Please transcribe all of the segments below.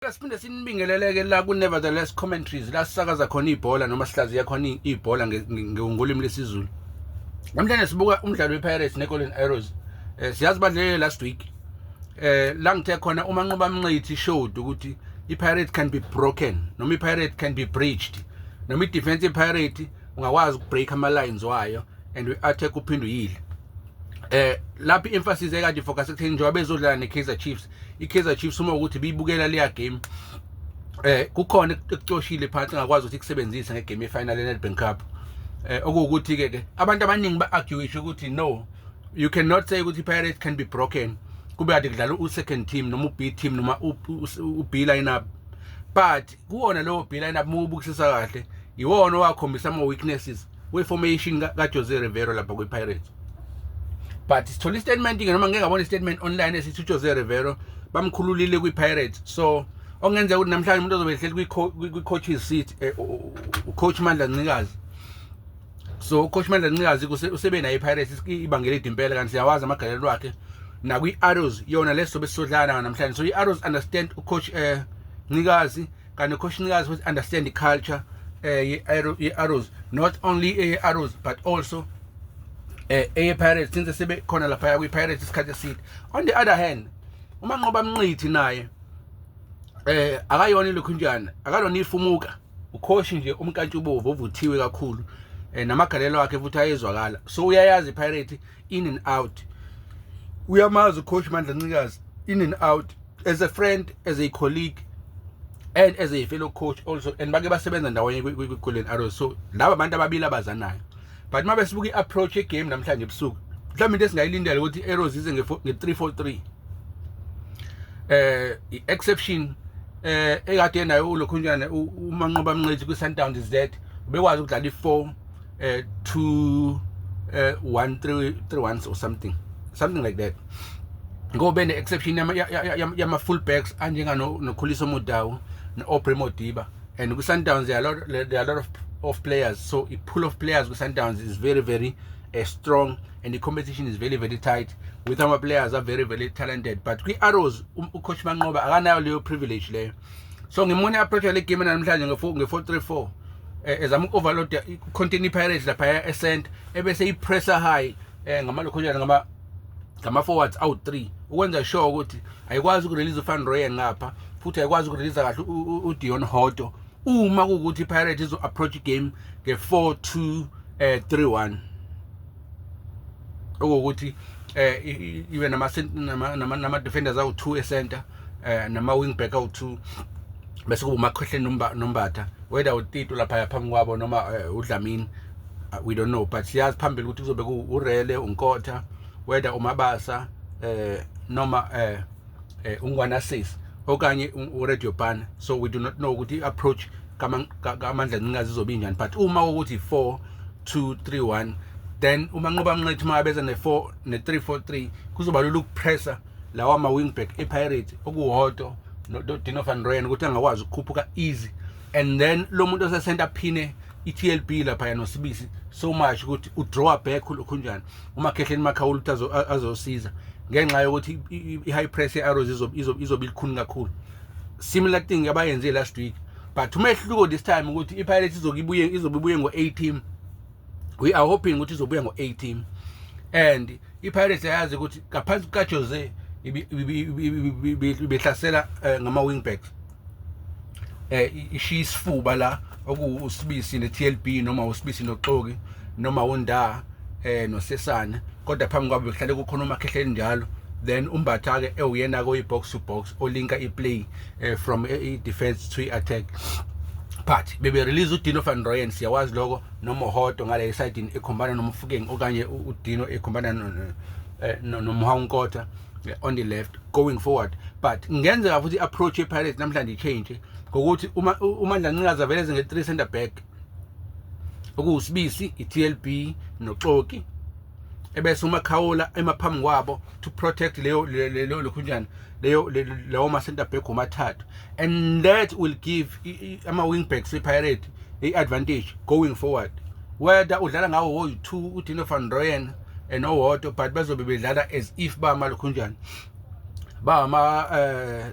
Siyabonga siphinde sinibingeleleke la ku Nevertheless Commentaries la sisakaza khona ibhola noma sihlaziya khona ibhola ngolimi lesiZulu. Namhlanje sibuka umdlalo wePirates neGolden Arrows. Eh siyazi badlele last week. Eh la ngithe khona uma nqoba mnqithi showed ukuthi iPirates can be broken noma iPirates can be breached. Noma idefense yePirates ungakwazi ukubreak ama lines wayo and we attack uphinde uyile. Eh lapha i-emphasis ekade focus ekutheni njengoba bezodlala neKaizer Chiefs i-Kaizer Chiefs uma ukuthi biyibukela leya game eh kukhona ekucoshile phansi ngakwazi ukuthi ikusebenzise ngegame yefinal yeNedbank Cup eh okuwukuthi ke ke abantu abaningi ba argue ukuthi no you cannot say ukuthi Pirates can be broken kube ade kudlala u second team noma u B team noma u B lineup but kuwona lowo bhila nabo mubukisisa kahle iwona owakhombisa ama weaknesses we formation ka Jose Rivero lapha kwi Pirates but sithola i statement ke noma ngeke ngabona i statement online esithi Jose Rivero bamkhululile kwi Pirates so ongenzeka ukuthi namhlanje umuntu ozobe ehleli kwi coaches seat eh, u coach Mandla Ncikazi so ucoach mandla ncikazi usebe naye ipirates ibangela idi impela kanti siyawazi amagalelo wakhe nakwi-arrows yona leso sobe sisodlana nayo namhlanje so i-arrows understand ucoach um eh, ncikazi kanti ucoach ncikazi futhi understand i-culture eh, um ye-arrows not only eye-arrows but also um eye-pirates since sebe khona laphaya kwi-pirates isikhathi eside on the other hand umanqoba mnqithi naye um akayona ilokhunjana akalona ifumuka ukhoshi nje umkantshubovu ovuthiwe kakhulu eh, namagalelo akhe futhi ayezwakala so uyayazi pirate in and out uyamazi ucoach mandla ncikazi in and out as a friend as a colleague and as a fellow coach also and bake basebenza ndawonye kwi-golden arrows so laba bantu ababili abazanayo but uma besibuka i-approach yegame namhlanje ebusuku mhlawumbe into esingayilindela ukuthi i-arrows ize nge-three four three eh i-exception eh ekade nayo ulokhunjane umanqoba mncethi kwi-sundowns z ubekwazi ukudlala i-four eh two eh one three three ones or something something like that ngobe ne-exception yama-full backs anjenganokhulisa omodawu no-obre modiba and ku Sundowns there are a lot there are a lot of of players so i pool of players ku Sundowns is very very uh, strong and the competition is very very tight with our players are very very talented but kwi Arrows um, u coach Manqoba akanayo leyo privilege leyo so ngimone approach le game namhlanje nge 4 nge 434 eh, ezama uku overload continue Pirates lapha e center ebese i pressure high eh ngama lokhonyana ngama ngama-forwards awu-three ukwenza sure ukuthi ayikwazi ukurelease ufan royen ngapha futhi ayikwazi ukureleasa kahle udion hoto uma kuwukuthi ipirate izo-approach igame nge-four two um eh, three one okuwukuthi um eh, ibe nama-defenders awu-two ecenter eh nama wing back awu2 bese kuba umakhohle nombatha whether utito lapha yaphambi kwabo noma eh, udlamini uh, we don't know but siyazi phambili ukuthi kuzobe urele unkotha whether umabasa eh noma eh, eh ungwana sis okanye uradio ban so we do not know ukuthi approach kamandla ncingazi izobe injani but uma ukuthi 4 2 3 1 then uma nqoba mnqethi uma abeza ne-4 ne-3 4 3 kuzoba lula ukupressa lawa ma-wingback epirates okuwoto nodino van ryan ukuthi angakwazi ukukhuphuka easy and then lo muntu osesenta phine i-tlb laphaya nosibisi so much ukuthi udrawa back ulokhunjani umakhehleni makhawula ukuthi azosiza ngenxa yokuthi i-high press ye-arrows izobe ilikhuni kakhulu similar thing abayenze last week but umehluko this time ukuthi i-pirates izobe ibuye ngo-a team we are hoping ukuthi izobuya ngo-18 and ipirates ayazi ukuthi ngaphansi kukajose ibihlasela eh, ngama-wingback um eh, ishiya isifuba la okuwusibisi ne-tlb noma usibisi noxoki noma undaa eh nosesana kodwa phambi kwabo bekuhlale kukhona umakhehleni njalo then umbatha-ke ewuyena-ke oyi-box to box olinka i-play uh, from a defense to attack but bebe release uDino van Rooyen siyawazi lokho noMohoto ngale esidini ekhombana noMfukeng okanye uDino ekhombana eh, noMhawunkotha eh, on the left going forward but ngenzeka futhi approach yePirates namhlanje change ngokuthi uma uMandla Ncikaza vele nge 3 center back okuwusibisi iTLB noXoki ebese uma khawula emaphambi kwabo to protect leyo leyo lokhunjana leyo lawo ma center back omathathu and that will give ama wing backs ipirate i advantage going forward whether udlala ngawo wo 2 uDino van Rooyen and owodwa but bazobe bedlala as if ba malokhunjana ba ma eh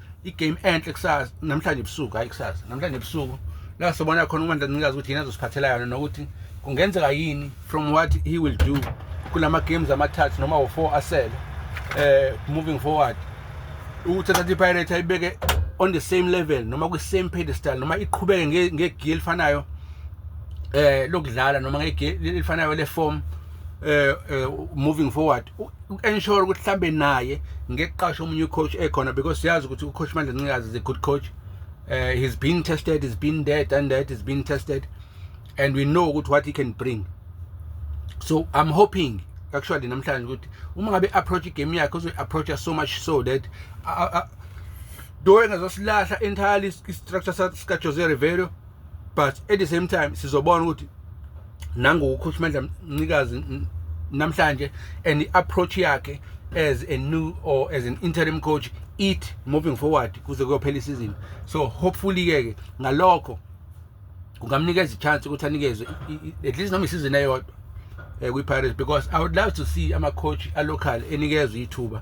igame enhle kusasa namhlanje ebusuku hayi kusasa namhlanje ebusuku la sobona khona uMandla Ncikazi ukuthi yena azosiphathela yona nokuthi kungenzeka yini from what he will do kulama games amathathu noma wo4 asele eh moving forward ukuthi thatha iPirates ayibeke on the same level noma kwi same pedestal noma iqhubeke ngegear elifanayo eh lokudlala noma ngegear elifanayo le form eh, eh moving forward uensure ukuthi mhlambe naye ngeqasha omunye ucoach ekhona because siyazi ukuthi ucoach manje ncikazi is a good coach uh, he's been tested he's been there done that he's been tested and we know ukuthi what he can bring so i'm hoping actually namhlanje ukuthi uma ngabe approach igame yakhe uzoy approacha so much so that do engazosilahla entirely i-structure sika-jose rivero but at the same time sizobona ukuthi nangokukhulumela mnikazi namhlanje and i-approach yakhe as a new or as an interim coach it moving forward kuze kuyophela isizini so hopefully ke ke ngalokho kungamnikeza ichance ukuthi anikezwe at least noma isizini eyodwa eh, kwi-pirates because i would love to see ama-coach alocal enikezwe ithuba